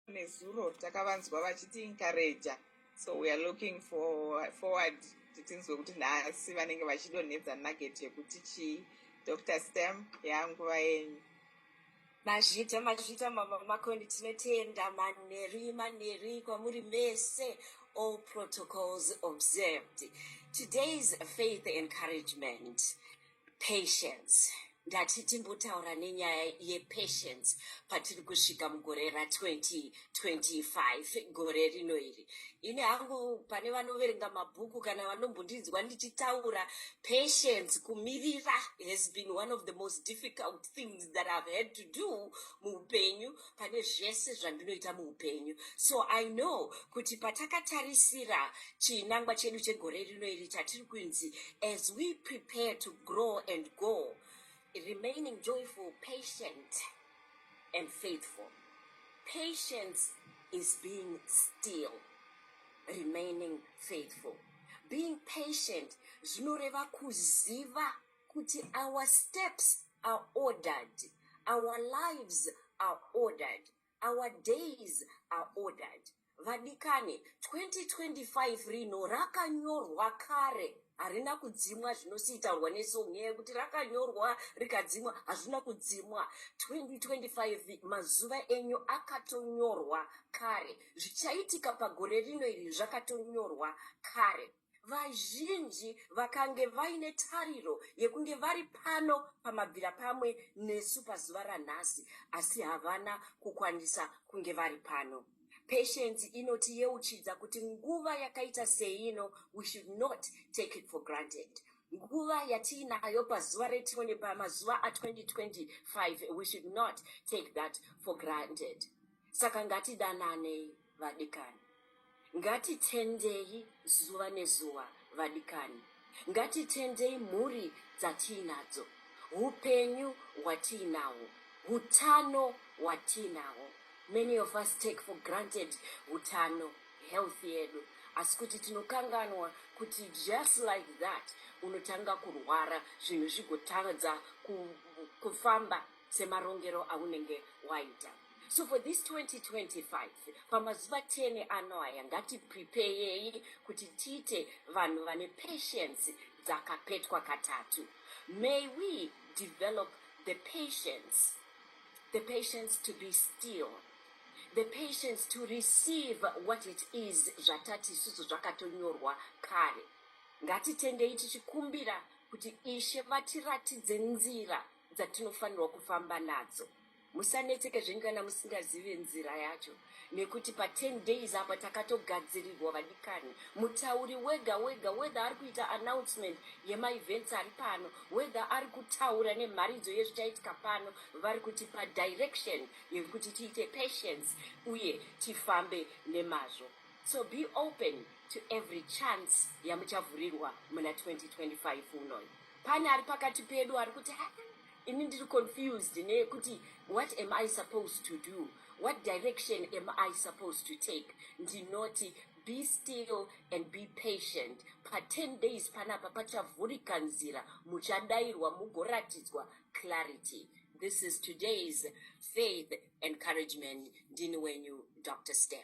nezuro takavanzwa vachiti encourager so we are looking for forward kuti tinzwe kuti nhasi vanenge vachidonhedza nugget yekuti chii dr stam yanguva yenyu mazvita mazvita mama makoni tinotenda manheri manheri kwamuri mese all protocols observed today's faith encouragement patience ndati timbotaura nenyaya yepatience patiri kusvika mugore ra2025 gore rino iri ini hangu pane vanoverenga mabhuku kana vanombondinzwa ndichitaura patience kumirira has been one of the most difficult things that ihave had to do muupenyu pane zvese zvandinoita muupenyu so i know kuti patakatarisira chinangwa chedu chegore rino iri chatiri kunzi as we prepare to grow and go remaining joyful patient and faithful patience is being still remaining faithful being patient zvinoreva kuziva kuti our steps are ordered our lives are ordered our days are ordered vadikane 2025 rino rakanyorwa kare harina kudzimwa zvinosiitaurwa nesong nyaya yekuti rakanyorwa rikadzimwa hazvina kudzimwa 2025 mazuva enyu akatonyorwa kare zvichaitika pagore rino iri zvakatonyorwa kare vazhinji vakange vaine tariro yekunge vari pano pamabvira pamwe nesu pazuva ranhasi asi havana kukwanisa kunge vari pano patience inotiyeuchidza kuti nguva yakaita seino we should not take it for granted nguva yatiinayo pazuva re20 pamazuva a2025 we should not take that for granted saka ngatidananei vadikani. Ngatitendei zuva nezuva vadikani. Ngatitendei mhuri dzatiinadzo, upenyu hwatiinahwo, utano hwatiinahwo. Many of us take for granted utano, health yedu. Asi kuti tinokanganwa kuti just like that unotanga kurwara zvinhu zvigotadza kufamba semarongero aunenge waita. so for this 2025 pamazuva 10 ano aya ngatiprepeyei kuti tiite vanhu vane patience dzakapetwa katatu may we develop the patience the patience to be still the patience to receive what it is zvatati isusu zvakatonyorwa kare ngatitendei tichikumbira kuti ishe vatiratidze nzira dzatinofanirwa kufamba nadzo Musanetseke zvenyu kana musingazive nzira yacho nekuti pa 10 days apa takatogadzirirwa vadikani. Mutauri wega wega whether ari kuita announcement yema events ari pano whether ari kutaura nemharidzo yezvichaitika pano vari kutipa direction yekuti tiite patience uye tifambe nemazvo. So be open to every chance yamuchavhurirwa muna 2025 unoyi. Pane ari pakati pedu ari kuti ini ndiri confused nekuti what am i supposed to do what direction am i supposed to take ndinoti be still and be patient pa10 days panapa pachavhurika nzira muchadairwa mugoratidzwa clarity this is today's faith encouragement ndini wenyu dr stem